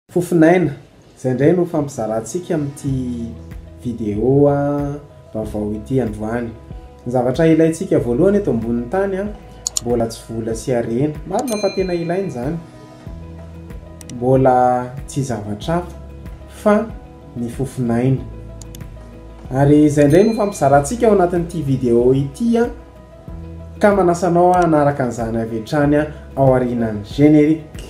Fofon'aina, izay indray no hifampizarantsika amin'ity vidéo vaovao ity androany. Ny zavatra ilaintsika voalohany eto ambonin'ny tany mbola tsy vola sy harena. Marina fa tena ilaina izany. Mbola tsy zavatra hafa fa ny fofon'aina. Ary izay indray no hifampizarantsika ao anatin'ity vidéo ity ka manasa anao hanaraka an'izany avy hatrany aorianan'ny générique.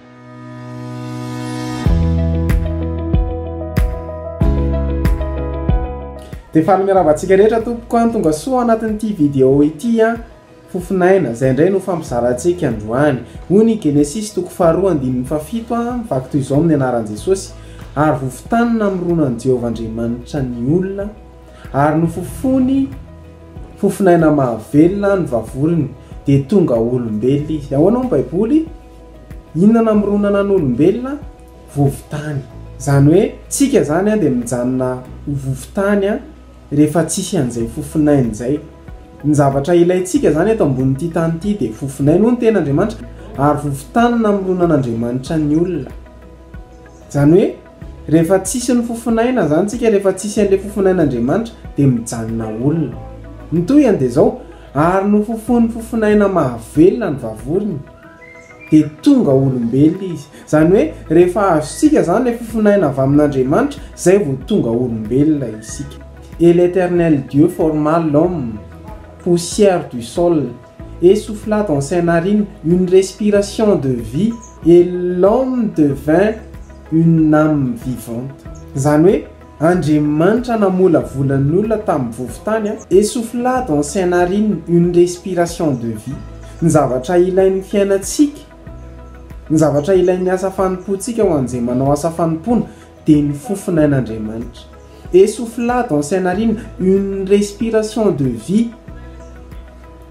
Dia fanomeravantsika rehetra tompoko an, tonga soa ao anatin'ity vidéo ity an, fofonaina, izay indray no fampizarantsika androany. Hoy ny Genesisy toko faharoa andininy fahafito an, mivaky toy izao amin'ny anaran'i Jesosy, ary vovon-tany namorona an'i Jehovah Andriamanitra ny olona, ary nofofony fofonaina mahavelona ny vavorony, dia tonga olombelona izy. Ahoana hoy ny Baiboly? Inona namoronana ny olombelona? Vovontany. Izany hoe tsika izany dia mijanona ho vovontany rehefa tsisy an'izay fofonainy izay. Ny zavatra ilaintsika izany eto ambonin'ity tany ity dia fofonainy, hoy ny Tenin'Andriamanitra, ary vovontany namoronan'Andriamanitra ny olona. Izany hoe rehefa tsisy ny fofonaina izany tsika, rehefa tsisy an'ilay fofonain'Andriamanitra dia mijanona olona. Ny tohiny dia izao, ary nofofoin'ny fofonaina mahavelona ny vavorony. dia tonga olombelona izy. Izany hoe rehefa azontsika izany ilay fofonaina avy amin'Andriamanitra, izay vao tonga olombelona isika. Et l'Eternel Dieu forma l'homme, poussière du sol, et souffla dans ses narines une respiration de vie, et l'homme devint une âme vivante. Izany hoe Andriamanitra namolavola ny olona tamin'ny vovo-tany, Esouffla dans ses narines une respiration de vie, ny zavatra ilain'ny fiainantsika, ny zavatra ilain'ny asa fanompoantsika ho an'izay manao asa fanompoana dia ny fofonain'Andriamanitra. Esouffla dans ses narines une respiration de vie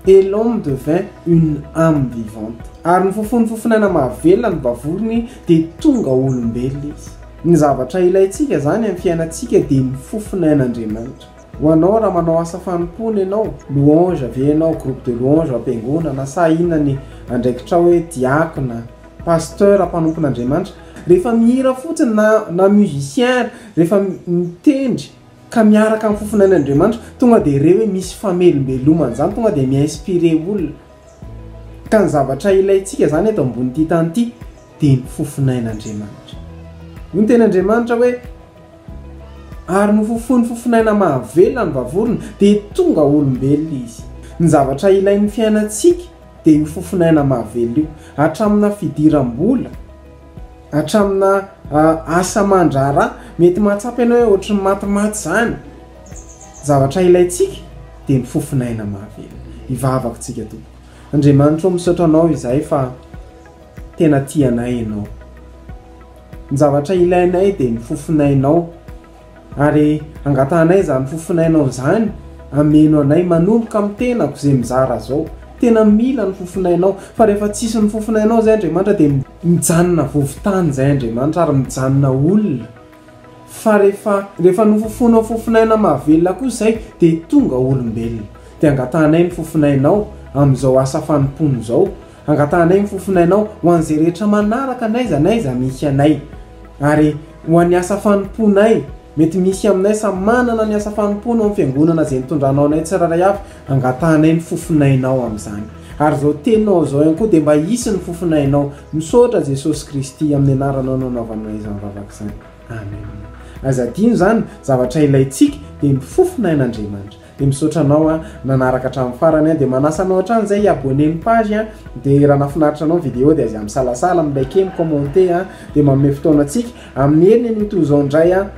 et l'homme devint une âme vivante. Ary nofofoin'ny fofonaina mahavelona ny vavorony dia tonga olombelona izy. Ny zavatra ilaintsika izany amin'ny fiainantsika dia ny fofona ain'Andriamanitra. Ho anao, raha manao asa fanompoana ianao, louange ve ianao, groupe de louange ao am-piangonana, sa inona ny andraikitrao hoe diakona, pasteur, mpanompon'Andriamanitra, rehefa mihira fotsiny na na musicien rehefa mitendry ka miaraka amin'ny fofona ain'Andriamanitra, tonga dia re hoe misy famelombelomana izany, tonga dia mi-inspirer olona. Ka ny zavatra ilaintsika izany eto ambonin'ity tany ity dia ny fofon'ain'Andriamanitra. Hoy ny Tenin'Andriamanitra hoe, Ary nofofoiny fofon'aina mahavelona ny vavorona, dia tonga olombelona izy. Ny zavatra ilain'ny fiainantsika dia io fofon'aina mahavelona io. Hatraminà fidiram-bola, hatraminà asa aman-draharaha, mety mahatsapa ianao hoe ohatry ny matimaty izany. Ny zavatra ilaintsika dia ny fofon'aina mahavelona. Hivavaka tsika tompoko. Andriamanitra o misaotra anao izahay fa tena tia anay ianao. Ny zavatra ilainay dia ny fofon'ainao ary angatahanay izany fofon'ainao izany ameno anay manomboka amin'ny tenako izay mizara zao. Tena mila ny fofon'ainao fa rehefa tsisy ny fofon'ainao zay Andriamanitra dia mijanona vovo-tany zay Andriamanitra ary mijanona olona. Fa rehefa, rehefa nofofoinao fofonaina mahavelona kosa izay, dia tonga ho olombelona. Dia angatahanay ny fofonainao amin'izao asa fanompoana izao. Angatahanay ny fofonainao ho an'izay rehetra manaraka n'aiza n'aiza misy anay. Ary ho an'ny asa fanompoanay, mety misy aminay samy manana ny asa fanompoany ao amin'ny fiangonana izay nitondranao anay tsirairay avy, angatahanay ny fofonainao amin'izany. Ary izao teninao izao ihany koa dia mba hisy ny fofonainao. Misaotra Jesosy Kristy amin'ny anaranao nanaovanao izany vavaka izany. Amen. Aza adino izany, zavatra ilaintsika dia ny fofona ain'Andriamanitra. Dia misaotra anao an, nanaraka hatramin'ny farany an, dia manasa anao hatrany izay hi-abonner ny page an, dia raha nahafinaritra anao ny video dia aza misalasala, mi-liker, mi-commenter an, dia manome fotoana antsika. Amin'ny heriny anio toy izao indray an,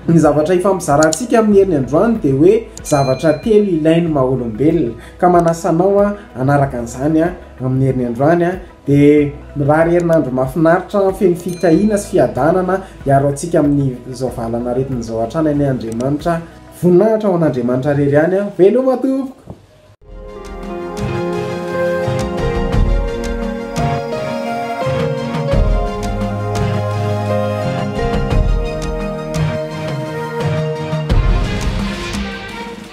ny zavatra hifampizarantsika amin'ny heriny androany dia hoe zavatra telo ilain'ny maha olombelona. Ka manasa anao hanaraka an'izany amin'ny herin'ny androany, dia mirary herinandro mahafinaritra feno fitahiana sy fiadanana hiaro antsika amin'izao valan'aretina izao hatrany anie Andriamanitra. Voninahitra ho an'Andriamanitra irery ihany. Veloma tompoko.